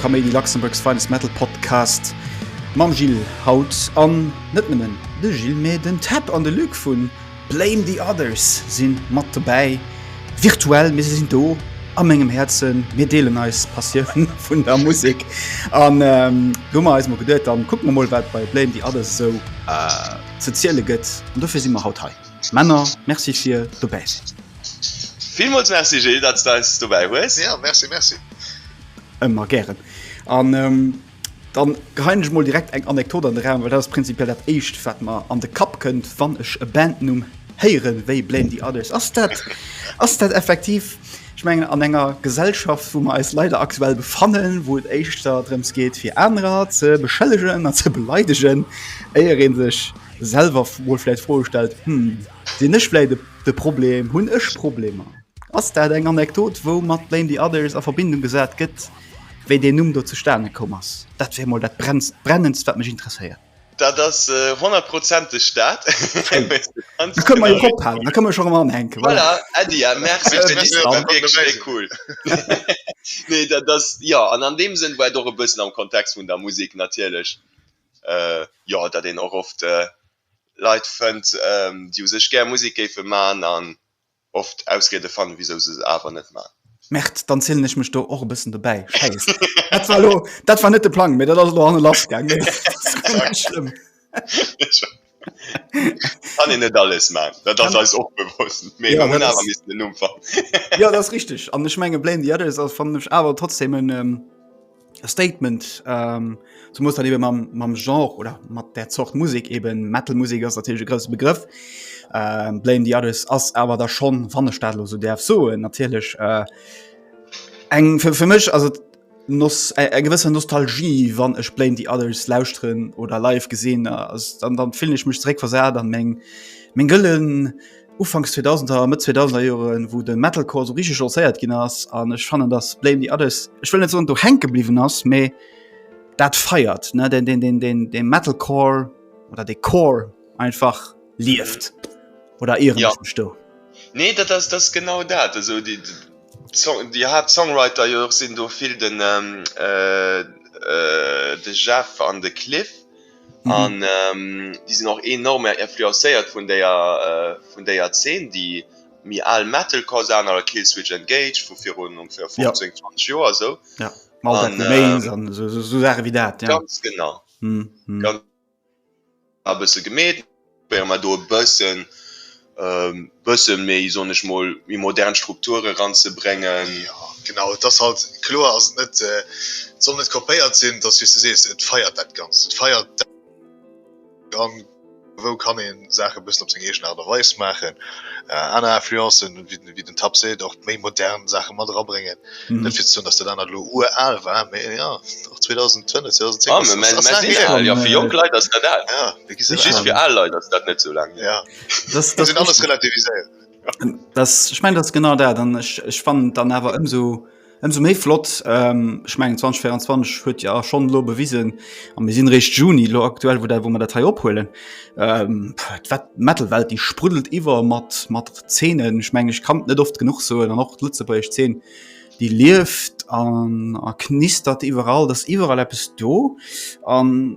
Kaméidi, Luxembourg's finest metal podcast mam Gilles haut an net nëmmen de Gilles, mä den Tap an de Luc vu Blame the Others sinn mat dobäi virtuell, mee se sinn do a mengem Häerzen. Mir deelen eis Passioun vun der Musek an ähm, do mer eis mo geduet, dann kucke mer mol wat bei Blame the Others esou äh, ze ziele gëtt an dofir si mer haut hei. Männer, Merci fir dobäi sinn. Villmools Merci Gilles, datt s de eis dobäi hues. Ja, Merci, Merci. Ëmmer gären. An da geheien ech mol direkt eng Anekdot an de Raum, well dat ass prinzipiell dat Éischt, wat mer an de Kapp kënnt, wann ech e Bandnumm héieren, wéi Blame the Others. Ass dat, ass dat effektiv, ech mengen, an enger Gesellschaft, wou mer eis leider aktuell befannen, wou et éischter drëms geet, fir anerer ze beschëllegen an ze beleidegen, éier ee sech selwer mol vläicht d'Froe stellt, Hm, sinn ech vläicht de Problem? Hunn ech Problemer? Ass dat eng Anekdot wou mat Blame the Others a Verbindung gesat gëtt wéi deen Numm do zustane koum ass? Dat wär mol dat brennendst wat mech interesséiert. Dat ass honnertprozenteg dat. Da kënne mer jo drop halen, da kënne mer jo rëm anhänken. Voilà Äddi, merci fir déi Info, wierklech méi cool. Nee dat ass jo an an deem Sënn war et och e bëssen am Kontext vun der Musek natierlech jo datt een och oft Leit fënnt déi u sech gär Musek géife man an oft Ausriede fannen wisou se se awer net man. Merde, dann zielen ech mech do och e bëssen dobäi. Schäisst, dat war elo, dat war net de Plang, mee dat ass elo hanne lass gaang. Mee dat ass guer net schlëmm. Kann een net alles man, dat ass eis och bewosst, mee mer hunn awer missen en Numm fannen. Jo, dat ass richteg, an ech menge Blame the Others ass, fannen ech awer trotzdem en. Statement ähm, zum muss dann eben mam, mam Genre oder mat der Zort Musik eben Metalmusik ass natürlich e grosse Begrëff. Ähm, Blame the Others ass awer da schon wann e Stadlo so derf so natierlech äh, eng fir, fir mech also nos äh, eng gewësser Nostalgie wann ech Blame the Others lausren oder live gesinn äh, ass dann dann fill ich mech dréck versat an meng meng gëllen Ufanks 2000er a Mëtt 2000er Joren, wou de Metalcore esou richtig lancéiert ginn ass an ech fannen, dass Blame the Others, ech wëll net soen, do hänke bliwwen ass, mä dat feiert, ne, den, den, den, den, den Metalcore oder de Core einfach lieft. Oder irren Ja. ech mech do? Nee, dat ass, dat ass genau dat. Also déi, déi Song, déi Haaptsongwriter jo och sinn do vill den, ähm, äh, äh, de Jeff an de Cliff. an déi sinn och enorm influencéiert vun déier vun déier Zeen déi méi al Metalcore Saachen à la Killswitch Engage vu virun ongeféier 15, 20 Joer esou ganz genau a bësse gemeet. Probéiere mer do e bëssen, bësse méi, soen ech mol, méi modern Strukture eranzebréngen. Jo, genau, et ass halt kloer, dass et net, et soll net kopéiert sinn, et ass, wéi s de sees, et feiert dat Ganzt, et feiert dat. An wou kann ee Saache e bëssen op seng eegen Aart a Weis maachen, aner Influencen, wéi wéi den Tab seet, och méi modern Saache mat era bréngen. Mhm. Net fir ze soen, dass dat anert lo uraal war, mee ja, och 2005, 2010 Ah, ass- mä- mä- ass mä laang si her. al, jo, fir jonk Leit ass dat al. Ja, mir gi se Just al. fir al Leit ass dat net sou laang hier. Ja, Das, muss een alles das, relativiséieren. das, ech mengen, dat ass genau dat. An ech, ech fannen et dann awer ëmsou. Ëmsou méi flott, ech mengen 2024 huet jo schonn elo bewisen, a mir sinn réischt Juni elo aktuell, wou dat wou mer dat hei ophuelen, wat d'Metal-Welt déi spruddelt iwwer mat mat Zeenen. Ech mengen ech kann et net oft genuch soen an och d'lëtzebuergesch Zeen déi lieft an a knistert iwwerall, et ass iwwerall eppes do an,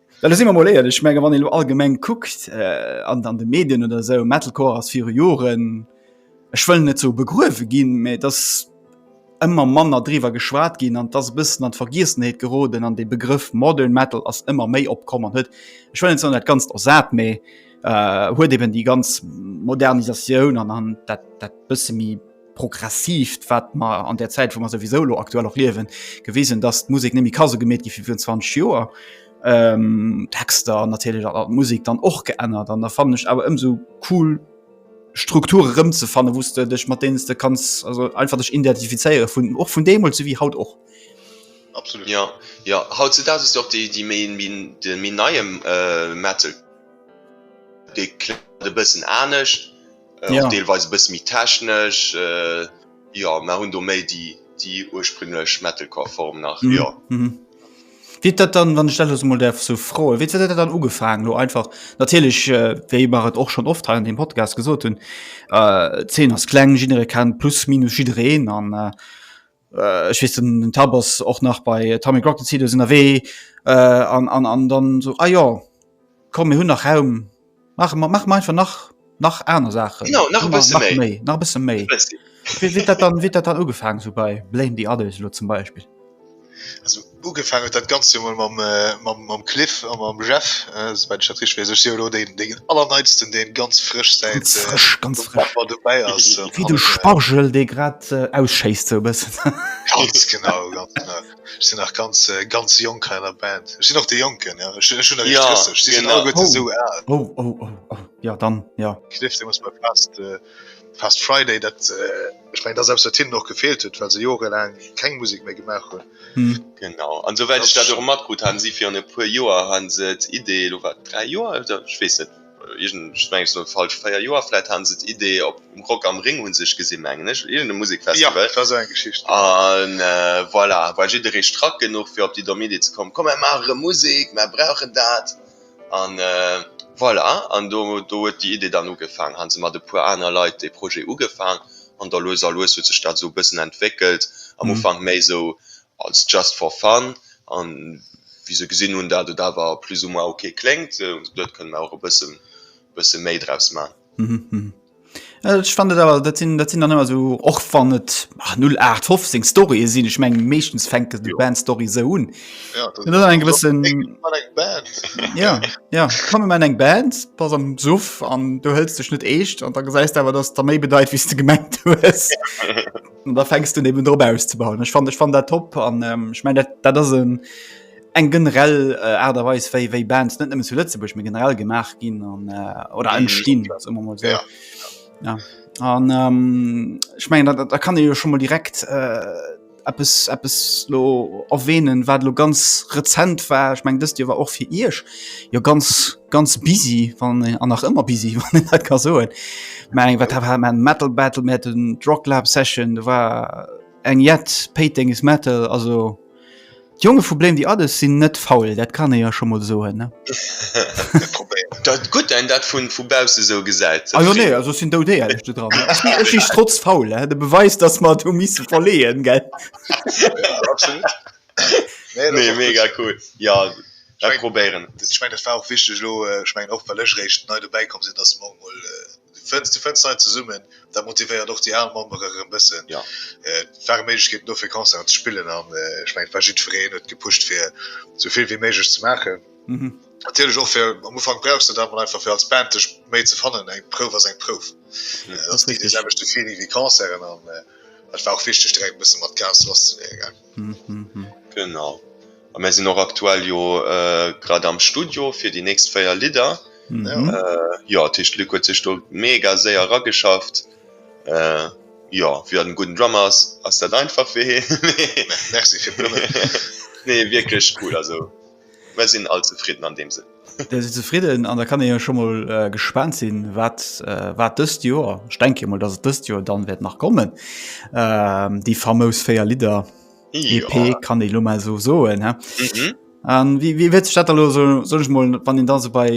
Well da si mer mol éierlech, ech menge wann ee lo allgemeng kuckt an an de Medien oder esou, Metalcore ass viru Joren, ech wëll net sou begruewe ginn, mä et ass ëmmer manner driwwer geschwat ginn an et ass e bëssen an d'Vergiessenheet geroden an dee Begrëff Modern Metal ass ëmmer méi opkomm an huet, ech wëll net soen dat Ganzt ersat, mä huet eben déi ganz Modernisatioun an an dat dat bësse méi. progressivt wat mer an der Zäit, wou mer souwisou elo aktuell och liewen, gewisen, dass d'Musek net méi ka sou gemeet gi wéi virun 20 Joer. Ähm, d'Texter natierlech an d'Musek dann och geännert an da fannen ech awer ëmsou cool, Strukture erëmzefannen, wou s de dech mat deenen s de kanns also einfach dech identifizéiere vun och vun deemools souwéi haut och. Absolut. Jo, jo, hautzedaags ass jo och déi déi méi min de méi neie Metal, dee kléngt e bëssen anescht. och deelweis e bësse méi technesch, jo, mä hunn do méi déi déi ursprünglech Metalcore Form nach, jo. Wéi huet dat dann, wann ech dat elo mol däerf sou froen, wéi huet dat dann ugefaangen elo einfach, natierlech wéi mer et och schonn oft hei an deem Podcast gesot hunn, d'Zeen ass kleng, jidderee kennt plus minus jiddereen an, Äh, ech wees den, den Tab ass och nach bei Atomic Rocket Seed ass ënnerwee äh, an, an, an dann so ah jo komm mir hunn nach Raum mach ma- mach einfach nach nach aner Sachen Genau, nach e bësse méi. méi nach bësse méi Bëssi. wéi wéi dat dann wéi dat dann ugefaangen so bei Blame the others lo zum Beispill Also Ugefaang huet dat Ganzt jo emol mam Cliff a mam Jeff, souwäit ech dat richteg weess. Ech si jo elo deen Allerneitsten, dee ganz frësch säit Dezember dobäi ass. Wéi de Spargel, dee grad ausschéisst, sou e bëssen. Ganz genau, ganz genau. Ech sinn nach ganz, ganz jonk hei an der Band. Ech sinn och dee Jonken, jo. Ech hunn eréischt 30, si sinn alleguerte esou al. Oh, oh, oh, oh, jo dann, jo. Cliff, dee muss bei Fast Friday dat. Ech mein, dass eppes wat hinnen och gefeelt huet, well se jorelaang keng Musek méi gemaach hunn. Genau, an souwäit ech dat och matkrutt hat, si virun e puer Joer hu se d'Idee, elo war et 3 Joer oder ech weess net, iergend ech mengen et soll falsch 4 Joer vläit, hate se d'Idee op um Rock am Ring hu se sech gesinn mengen ech, op iergend e Musekfestival. Jo, et war esou eng Geschicht, genau. An voilà, war jidderee strack genuch fir op déi domm Idee ze kommen, komm mer maache rëm Musek, mer brauchen dat. An voilà, an do huet déi Idee dann ugefaang, hu se mat e puer aner Leit dee Projet ugefaang, an da lues a lues huet sech dat esou e bëssen entwéckelt, am Ufank méi esou als just for fun, a wéi se gesinn hunn dat et awer plus ou moins ok kléngt, hu se gesot, kënne mer och e bësse méi draus man. Ech fand et awer dat sinn dat sinn dann ëmmer sou och wann et 0815 Storye sinn, ech meng meeschtens fänkt et ja. Band Story se hunn. Ja, dat eng gewëssen Ja ja komme man eng Band pass am Suff an du hëllst dech net eescht an da gesäist awer dats der méi bedeit wies de gemengt hues. da fängst du eben drop auszebauen. Ech fand ech fan dat top an ähm, ich mein dat dat ass en eng generell äh, Art a Weis wéi wéi Bands net nëmmen zu Lëtzebuerg, mir generell gemaach ginn an äh, oder entstinn mm, so. ja. ja. An ähm, ich mein, da, da kann e jo schon mal direkt äh, Appes, Appes lo erwähnen wat lo ganz rezent war ich mein, dëst Dir war och fir Isch jo ganz ganz busy van äh, an nach ëmmer busy ka so Mg wat hat man Metal Battle Mä den Drocklab Session war eng jet Peting is Metal also. D'Jonge vu Bléem déi Addes sinn net faul, dat kann ee jo scho mol soen, ne? Dat gutt een dat vu bausse esou gesäit. Ah jo, nee, also ech sinn doudeierlech do dran. Ech si strotz faul, de Beweis, datt mer et hu misse verleeën, gell? Absolut. Nee, mega cool. Jo, ech probéieren et. Ech mengen, dat war och wichteg elo, ech mengen och, well ech eréischt nei dobäi komm sinn, datt se morgen emol. Fënns de fënns Leit zesummen, dat motivéiert och déi al Membere erëm bëssen. Ja. Et ware Méiglechkeeten do fir Concerten ze spillen an ech mengen et war jiddwereen huet gepusht fir sou vill wéi méiglech ze maachen. Natierlech och fir am Ufank brauchs de dat emol einfach fir als Band dech méi ze fannen. Eng Prouf ass eng Prouf. Et ass ni dee selwechte Feeling wéi Concerten an et war och wichteg direkt e bësse mat Gas lasszeleeën. Genau. A mir sinn och aktuell jo äh, grad am Studio fir déi nächst véier Lidder. Mhm. Äh, jo, d'Tiischt Luc huet sech do mega séier erageschafft. Äh, jo, wéi dat en gudden Drummer ass, ass dat einfach fir hee. Merci fir d'Blummen. Nee, wierklech cool, also. Mer sinn all zefridden an deem Sënn. Der si zefridden an da kann ee jo scho mol gespaant sinn, wat wat dëst Joer, ech denke mol, datt et dëst Joer dann wäert nach kommen, déi famous véier Lidder EP kann ee lo mol esou soen. An wéi wéi huet sech dat da lo esou, soll ech mol, wann een da esou bei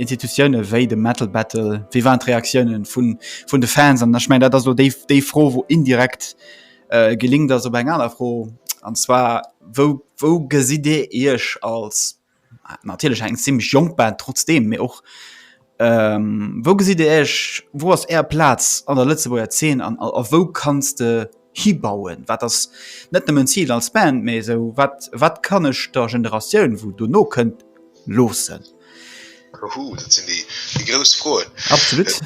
Institutioune wéi de Metal Battle, wéi waren d'Reaktiounen vun vun de Fans? An ech mengen, dat ass lo déi déi Fro, wou indirekt Äh, gelingt ass op eng aner Fro, an zwar wou, wou gesitt Dir Iech als, natierlech eng zimmlech jonk Band trotzdeem, mee och ähm, wou gesitt Dir Iech, wou ass Är Plaz an der Lëtzebuerger Zeen an a wou kanns de hibauen? Wat ass net nëmmen d'Zil als Band, mee esou wat, wat kann ech der Generatioun, wou dono kënnt, loossen? Huhu, dat sinn déi grouss Froen. Absolut.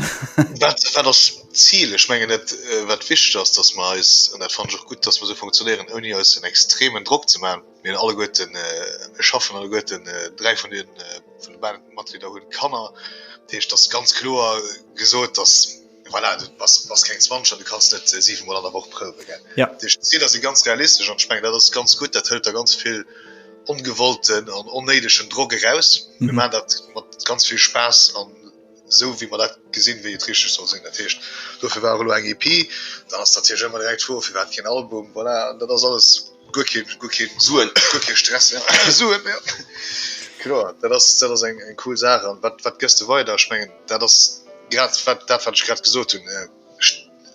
Wat ass d'Zil? Ech mengen et, wat wichteg ass, datt mer eis, an dat fannen ech och gutt, datt mer esou funktionéieren, ouni eis en extremen Drock ze maachen. Mir hunn alleguerten, mir schaffen alleguerten, dräi vun de Matglieder hunn Kanner. Dat heescht, et ass ganz kloer gesot, datt. Voilà, du bass keng 20 an du kanns net 7 mol an der Woch prouwen. Jo. D'Zieler si ganz realistesch an ech mengen, dat ass ganz gutt. Dat hëlt der ganz vill ongewollten an onnéidegen Drock eraus. Mir maachen dat mat ganz vill Spaass an esou wéi mer dat gesinn, wéi et richteg soll sinn. Dat heescht, dofir war och elo eng EP. Dann ass natierlech ëmmer direkt d'Fro, firwat keen Album? Voilà, dat ass alles. Guer keen, guer keen Suen, guer kee Stress, ja. Suen, ja. Kloer, dat ass, dat ass eng, eng cool Saach. An wat, wat gëss de weider? Ech mengen, dat ass grad wat, dat wat ech grad gesot hunn, et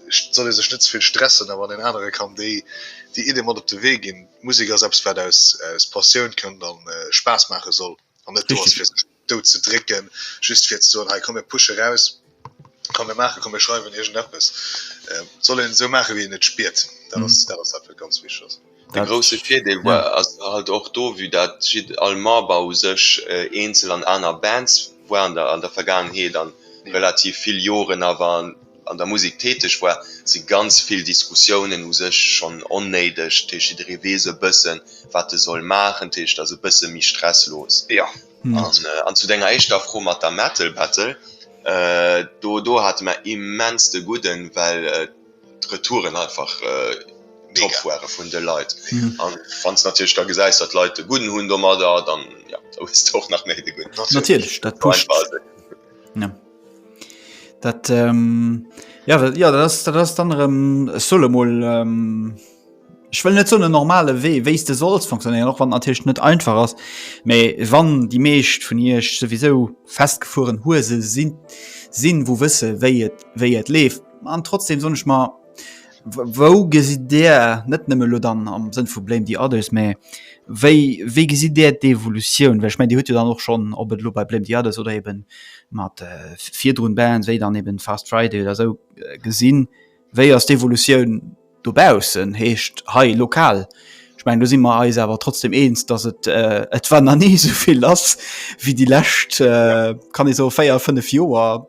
soll ee sech net ze vill stressen, a wann een anere kann déi, déi Iddie mat op de Wee ginn. Musek ass eppes wat aus, aus Passioun kënnt a Spaass maache soll an net do ass fir sech. dout ze drécken, just fir ze soen, hei komm mir pushe raus, komm mir maachen, komm mir schreiwen iergendeppes. Et soll een esou maache wéi een et spiert, dat ass dat, wat ganz wichteg ass. De grousse Virdeel war halt och do, vue dat jidde all Member u sech eenzel an aner Bands war an der Vergaangenheet a relativ vill Joren awer an der Musek täteg war, si ganz vill Diskussiounen u sech schonn onnéideg. Dat heescht, jidderee weess e bësse wat e soll maachen. Dat heescht, ass e bësse méi stresslos. An zu denger éischter Fro mat der Metal Battle, do do hate mer immens de Gudden, well d'Retouren einfach top ware vun de Leit. A wann s de natierlech da gesäis, datt d'Leit de Gudden hunn domadder, dann, jo, da hues de och nach méi de Gudden. Natierlech, dat pusht. Dat ähm, ja, dat, ja, dat ass dat ass dann erëm solo mol ähm, Ech wëll net so e normale Wee wéis de solls funktionieren och wann natiercht net einfach ass. méi wann déi meescht vun Iech souwisou festgefueren Huese sinn, sinn wou wësse wéi et wéi et leeft an trotzdem sonnech mar, Wou gesitt Dir, net nëmme elo dann am Sënn vu Blame the others, mä wéi, wéi gesitt Dir d'Evolutioun? Well ech mengen, Dir hutt jo dann och schonn, ob et elo bei Blame the others oder eben mat virdrun Bands wéi dann eben Fast Friday oder esou gesinn, wéi ass d'Evolutioun dobaussen, heescht hei lokal? Ech mengen, do si mer eis awer trotzdeem eens, datt et, et war nach ni esou vill lass wéi déi lescht, kann ee soen, véier, fënnef Joer.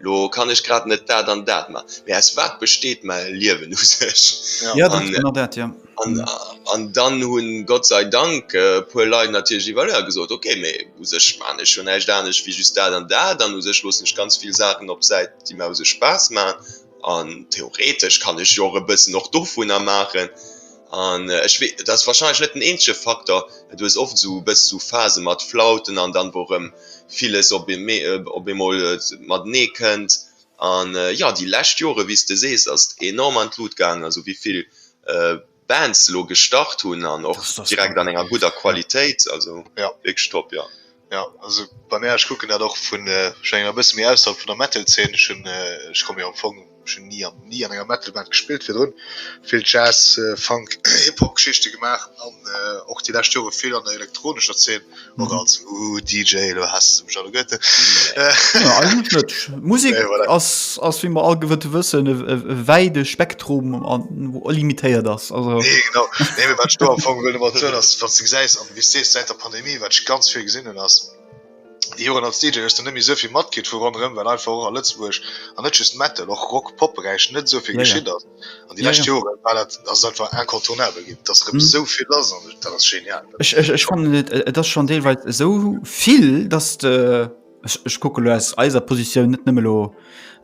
Lo kann ech grad net dat an dat man, mee aus wat besteet main Liewen u sech? Jo, dat ass genau dat, jo. An dann hunn Gott sei Dank e puer Leit natierlech iwwerlëer gesot, ok, mee u sech man ech jo näischt anescht wéi just dat an dat, an u sech loossen ech ganz vill Saachen op d'Säit, déi main u sech Spaass man, an theoretesch kann ech jo och e bëssen och dovunner maachen. An ech wee, dat ass wahrscheinlech net den eenzege Faktor, du hues oft esou e bëss esou Phase mat Flauten an dann, wou erëm villes op eemee, op eemol matenee kënnt. An jo, déi lescht Jore, wéi s de sees, ass et enorm an d'Lut gaangen, also wéi vill Bands elo gestart hunn an och direkt an enger gudder Qualitéit, also wierklech top, jo. Ja also bei mir, ech kucken dat och vun schon enger bësse méi ausserhalb vun der Metalzeen. Ech hunn, ech komme jo am Fong, ech hunn ni an ni an enger Metalband gespillt virdrun. Vill Jazz, Funk, Hip-Hop Geschichte gemaach an och déi lescht Jore vill an der elektronescher Zeen, och als DJ, elo haasst se mech all, Goethe. Nee eigentlech net. Musek ass ass wéi mer all gewëtte wëssen e wäide Spektrum an limitéiert ass also. Nee genau, nee mee wat ech do am Fong wëll domat soen ass, wann s de gesäis am Wéi s de sees, säit der Pandemie, wat ech ganz vill gesinn hunn, ass, Déi Joren als DJ hues de net méi esou vill matkritt vu ronderëm, well einfach och a Lëtzebuerg, an net just Metal, och Rock, Pop Beräich, net esou vill geschitt ass. An déi lescht Joren war dat, ass et einfach incontournabel ginn, dass erëm esou vill ass an dat ass genial. Ech fannen et, et ass schonn deelweis esou vill, dass de. Ech kucke lo aus eiser Positioun net nëmme lo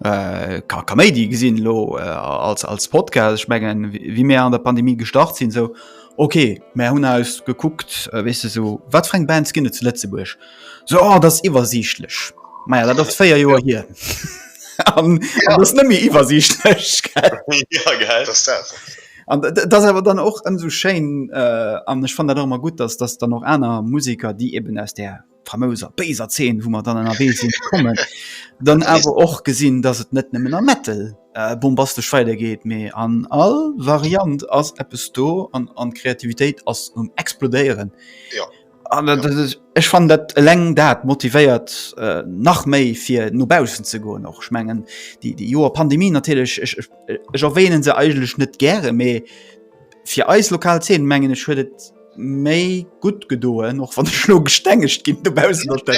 äh, ka Kaméidi gesinn lo äh, als, als Podcast. Ech mengen, wie mir an der Pandemie gestart sinn, so okay, mär hunn aus gekuckt, äh, wees du so, wat freng Bands ginne zu Lëtzebuerg? So oh, dat ass iwwersiichtlech. Maja, dat ass véier Joer hier. an, ja. an ass nëmme iwwersiichtlech. ja, geil. Das das. An dat awer dann och ëm so schéin äh, an ech fan dat och immer gut, dass dass dann och aner Musiker, déi eben aus der famouser béiser Zeen, wou mer dann ënnerwee sinn kommen, dann awer och gesinn, dass et net nëmmen am Metal äh, bombastesch weidergeet, mee an all Variant ass eppes do an, an Kreativitéit ass um Explodéieren. Ja. An dat, dat, dat, ech fan dat eleng dat motivéiert äh, nach méi fir no bausen ze goen och. Schmengen die, die Joer Pandemie natierlech ech, ech, ech erwähnen se eigenlech net gäre, mee fir eis lokal Zeen mengen ech huet et méi gutt gedoen och wann ech lo gestengegt ginn dobaussen op der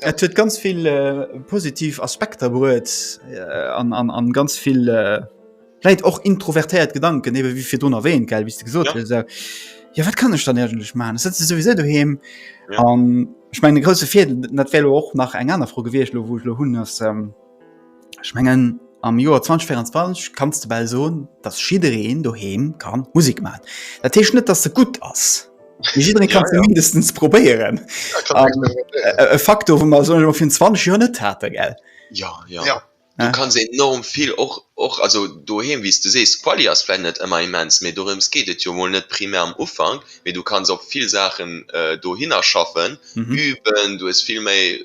Et huet ganz vill äh, positiv Aspekter bruet äh, an, an, an ganz vill äh, läit och introvertéiert Gedanken ewe wie fir don erwähnt gell wie gesot ja. So. ja wat kann ech dann ergentlech man si sowieso du he an ja. ähm, ich mein de grosse Fi net well och nach eng aner Fro gewiecht lo wo lo hunn ass. Ähm, Ech mengen am Joer 2024 kanns de bal soen, dass jiddereen doheem ka Musek maachen. Dat heescht net, dass se gutt ass. Mee jidderee ka se mindestens probéieren. E Faktor, wou mer esou virun 20 Joer net haten, gell? Jo, jo. Du kanns enorm vill och, och also doheem, wéi s de sees. D'Quali ass vläicht net ëmmer immens, mee dorëms geet et jo mol net primär am Ufank. Mee du kanns op vill Saachen dohinner schaffen, üben, du hues vill méi.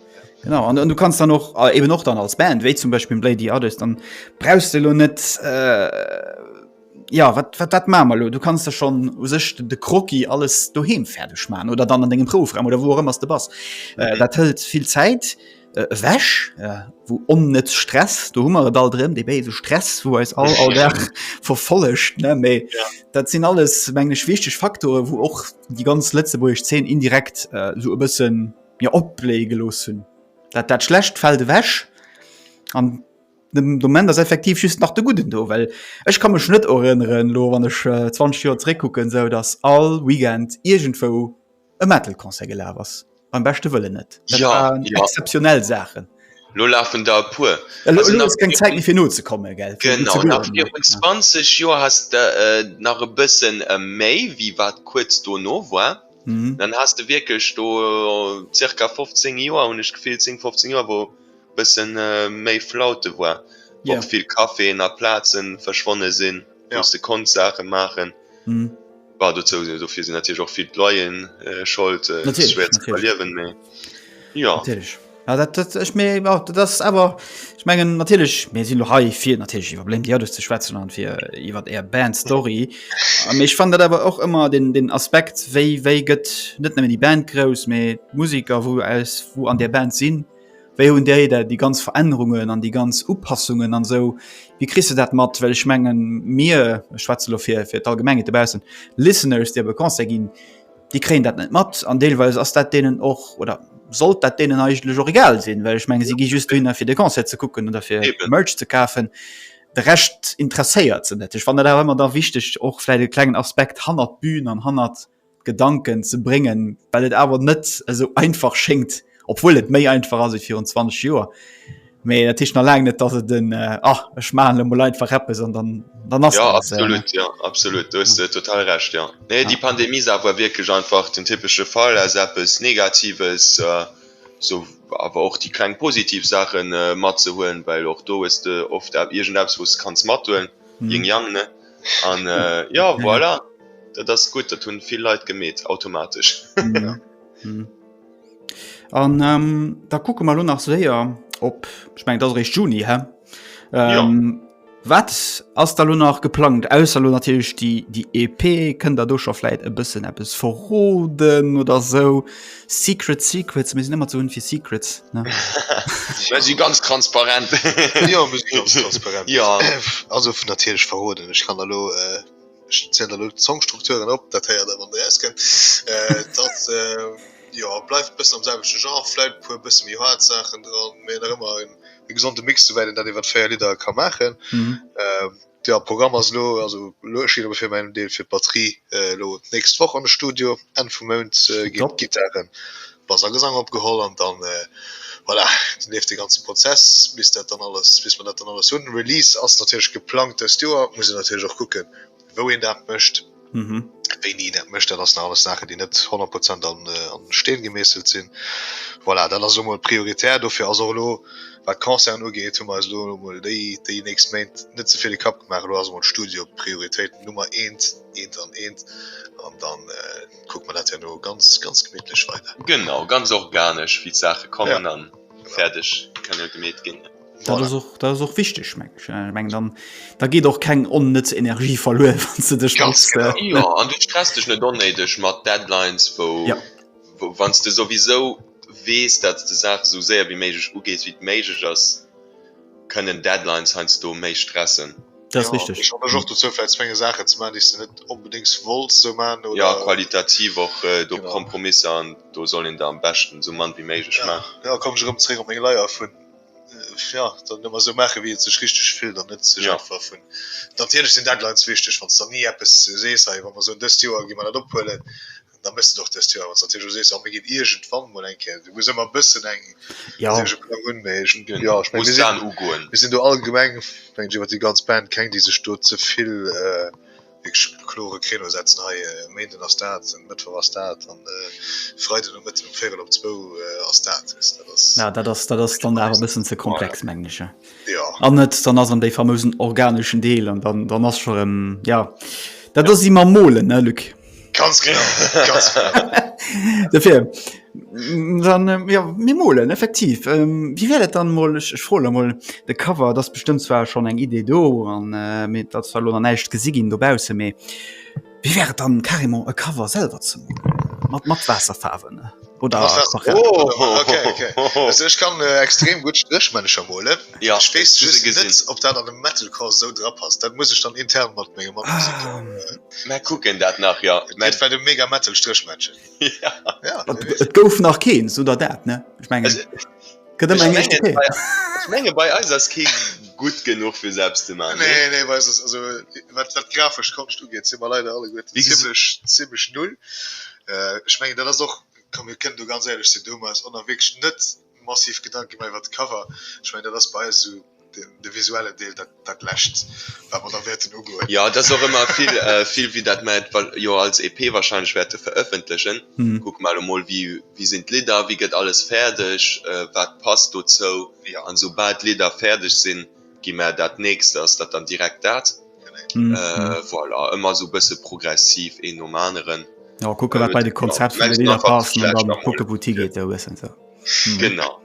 Genau an du kannst dann och äh, eben och dann als Band, wéi zum Beispiel Blade the Others, dann brauchst du lo net äh, ja wat, wat dat mamer lo. Du kannst da schon u sech de Kroki alles doheem fäerdeg man oder dann an degem Proufraum oder wo ëmmers de bass. Äh, okay. Äh, dat hëlt vill Zäit äh, wäsch äh, wo onnetz um Stress do hummer all drin de bese Stress wo als all all der verfollecht ne méi ja. dat sinn alles mengg wichteg Faktore wo och die ganz letzte wo ich 10 indirekt äh, so e bëssen mir opbléie gelooss hunn. Dat dat Schlecht fält ewech an de Moment ass effektiv just nach de Gudden do. Well ech ka mech net erënneren, elo wann ech 20 Joer zeréckkucken, esou datt all Weekend iergendwou e Metal-Concert gelaf ass. Beim beschte Wëllen net. Dat waren exzeptionell Saachen. Elo lafen der e puer. Elo ass keng Zäit méi fir nozekommen. Gell? Genau, nach virun 20 Joer hat s de nach e bësse méi wéi wat kuerz dono war. Dann has de wierklech do zirka 15 Joer, hunn ech d'Gefill, 10, 15 Joer, wou e bësse méi Flaute war, wou och vill Caféen a Plaze verschwonne sinn, wou s de konns Saache maachen. Bah, dozou, dofir sinn natierlech och vill d'Loyeren schold, et ass schwéier ze iwwerliewen, mee jo. Ja, dat, dat, ich, mir, ja, dat ass awer ich mengen natierlech mir sinn lo hei fir natierlech iwwer Blame the Others ze schwätzen an fir iwwer Är Band-Story. A méch fand dat awer och ëmmer den, den Aspekt wéi wéi gëtt net nëmmen déi Band grouss, mee d'Musiker wou aus wou an där Band sinn, wéi hunn déi dat déi ganz Verännerungen an déi ganz Upassungen an esou, wéi kriss de dat mat? Well ech mengen mir, ech schwätze lo fir fir d'Allgemengheet dobaussen, Listeners déi op e Concert ginn, Déi kréien dat net mat an deelweis ass dat deenen och, oder sollt dat deenen eigentlech och egal sinn, well ech menge si gi just dohinner fir de Concert ze kucken oder fir Merch ze kafen. De Rescht interesséiert se net. Ech fannen dat awer ëmmer da wichteg och vläicht e klengen Aspekt hannert d'Bün an hannert d'Gedanken ze bréngen, well et awer net esou einfach schéngt, Obwohl et méi einfach as virun 20 Joer. Mee dat Tischcht na lang net dat se den äh, ach ech ma le mol einfach rappe son dann dann ass ja absolut äh, ja absolut du ja. total recht ja nee ja. die Pandemie sa war wirklich einfach den typesche Fall as appes negatives äh, so awer och die kleng positiv Sachen äh, mat ze huelen well och do is de oft ab irgend abs wos kanns mat huelen mhm. jing jang ne an äh, ja voilà dat das gut dat hun viel Leiit gemet automatisch ja. mhm. An ähm, da kucke mal lo nach séier op ich mein, dat recht Juni hä ähm, ja. Wat ass da lo nach geplant aus lo natürlich die die EP kënnt da do schonfleit e bëssen App es verroden oder so secret secrets mir sind immer zu hun fir secrets sie ganz transparent ja, transparent. ja. also natürlich verroden ich kann da lo äh Ech zielen elo d'Songstrukturen op, dat héiert der wann der rauskënnt. Dat jo bleift e bëssen am selwechte Genre, vläit e puer bësse méi haart Saachen dran, mee nach ëmmer e gesonde Mix, souwäit een dat iwwert 4 Lidder ka maachen. Jo Programm ass elo, also elo ech schielen elo fir mäin Deel fir d'Batterie elo d'nächst Woch an de Studio, Enn vum Mount ginn d'Gittaren Bass a Gesang opgeholl an dann voilà leeft dee ganze Prozess bis dat dann alles, bis mer dat dann alles hunn. Release ass natierlech geplangt dëst Joer, muss een natierlech och kucke wou een dat mécht, wéini een dat mécht, dat ass nach alles Saachen déi net 100 Prozent an Steen gemeesselt sinn. Voilà dat ass elo mol prioritär, dofir ass och elo wat d'Concerten ugeet hu mer eis elo mol déi nächst Méint net ze vill de Kapp gemaach, elo ass emol d'Studio Prioritéit Nummer eent, eent an eent an dann. kucke mer dat herno ganz, ganz gemittlech weider. Genau, ganz organesch, wéi d'Saache kommen, a fäerdeg kann jo gemeet ginn. Dat ass och, dat ass och wichteg, menge ech. Ech mengen, dann, da geet och keng onnëtz Energie verluer, wann s de dech mat. Jo, an du stress dech net onnéideg mat Deadlines, wou, wou, wann s de souwisou weess, dat s de Saache sou séier wéi méiglech ugees, wéi et méiglech ass, kënnen Deadlines heiansdo méi stressen. Dat ass richteg. Ech ermëch och dozou vläicht zwéngen Saachen ze maachen déi s de net onbedéngs wolls sou maachen oder. Jo, qualitativ och do Kompromisser an do soll een der am beschten sou mann wéi méiglech maachen. Jo, komm ech erëm zeréck op meng Leier vun jo dann ëmmer sou maachen wéi et sech richteg fillt an net sech einfach vun natierlech sinn Deadlines wichteg wann s de dann ni eppes sees hei wa mer soen dëst Joer gi mer dat ophuelen da méchs de et och dest Joer, wanns de natierlech elo sees oh mir ginn iergendwann mol eng Kéier, du muss ëmmer e bëssen eng, Ja. wéi soll ech e Plang hunn, mee ech, Genau, jo, ech meng, muss mir sinn, d'Saach ugoen. mir sinn do allgemeng, mengen ech, iwwert déi ganz Band keng, déi sech do ze vill wierklech op e klore Créneau setzen, hei e Méinden ass dat, e Mëttwoch ass dat an e Freide Nomëtten um véirel op zwou ass dat, weess de, dat ass. Ja, dat ass, dat ass dann awer e bëssen ze komplex, mengen ech, ja. An et dann ass an déi famousen organeschen Deel an dann, dann ass scho rëm, ja, dat ass ewéi mam Molen, ne Luc? Ganz genau, ganz genau. Dafür, dann, ähm, ja, mir molen, effektiv. Ähm, wie wäre das dann mal, ich, ich frage mal, der Cover, das ist bestimmt zwar schon eine Idee da, und äh, mit, das war noch nicht gesehen da draußen, aber wie wäre dann carrément ein Cover selber zu machen? Mit, mit Wasserfarben? oder oh, okay, okay. Also, ich kann äh, extrem gut Strichmännischer mole ja, ich weiß just nicht, ob dat an dem Metalcore so drauf passt dat muss ich dann intern mat mir gemacht ah, äh, gucken dat nach ja mein, war dem mega Metal Strichmännchen ja. ja, gouf nach keen so der dat ne ich mein, also, Gëtt ëm eng éischt Kéier. Ech menge bei eis ass kee gutt genuch fir selbst ze maachen, nee? Nee, nee, bei eis ass, also wat wat d'grafesch Konscht ugeet, si mer leider alleguerten zimmlech zimmlech null. Ech mengen dat ass och, komm mir kënnen do ganz éierlech sinn, do hu mer eis och nach wierklech net massiv Gedanke gemaach iwwert d'Cover. Ech mengen dat ass bei eis esou. De visuellen Deel, dat lescht wat mer da wäerten ugoen. Jo, et ass och ëmmer vill, vill wéi dat mer et jo als EP wahrscheinlech wäerte verëffentlechen. Kucke mer elo mol, wéi, wéi sinn d'Lidder, wéi gëtt alles fäerdeg, wat passt dozou. An soubal d'Lidder fäerdeg sinn, gi mer, dat nächst ass dat dann direkt dat. Voilà, ëmmer esou e bësse progressiv, een nom aneren. Jo, kucke wat bei de Konzept vun de Lidder passt an da kucke wou d'higeet esou e bëssen. Genau.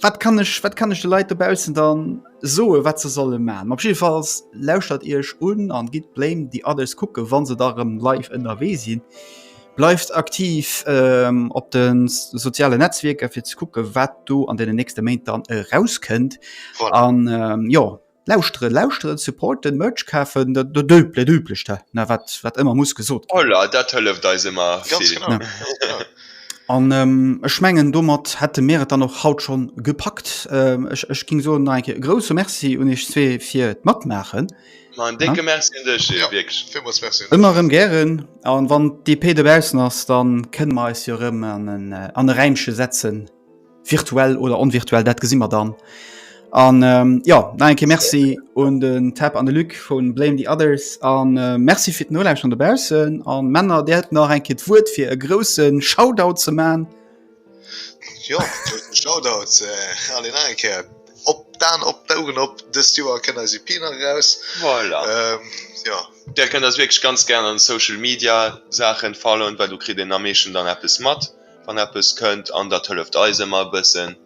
Wat kann ech wat kann ech de Leit dobaussen dann soe wat ze solle ma op jefalls lauschtert Iech un an gitt blame déi alles kucke wann se da rëm live ënnerwee sinn. Bleift aktiv ähm op de soziale Netzwierker fir ze kucke wat do an den nächste Méint dann erauskënnt an jo Lauschteren, lauschteren, supporten, Merch kafen, dat Üblecht he, ne, wat ëmmer muss gesot ginn. Voilà, dat hëlleft eis ëmmer vill. An ech mengen, domat hätte mir et dann och haut scho gepackt. Ech géing soen, nach eng Kéier e grouse Merci un iech zwee fir d'Matmaachen. Ma en décke Merci un dech, Gilles, wierklech. Ëmmer erëm gären. A wann d'EP dobaussen ass, da kënne mer eis jo erëm an e Räimche setzen. Virtuell oder onvirtuell, dat gesi mer dann. An ähm, ja na enke Merci un den Tapp an de Lück vun Blame the Others an äh, Merci fir Noläich an de Bausen an Männer dert nach enke d' Wuert fir e groussen Shoutout ze man. Jo Shoutout äh, alle nach enke op d'Aan op d'Ougen op dëst Joer kënnt eis EP nach eraus. Voilà. Ähm, ja. Där kënnt eis wierklech ganz gär an de Social Media Saachen followen, well do kritt een am meeschten dann eppes mat. wann eppes kënnt an dat hëlleft eis ëmmer e bëssen.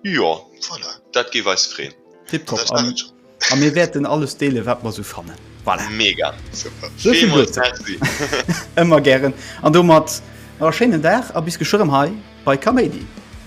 Jo, voilà, dat géif eis freen. Tiptop a mir wäerten alles deelen wat mer esou fannen. Voilà. Mega, super, villmools Merci. Ëmmer gären an domat nach e schéinen Dag a bis geschwë rëm hei bei Kaméidi.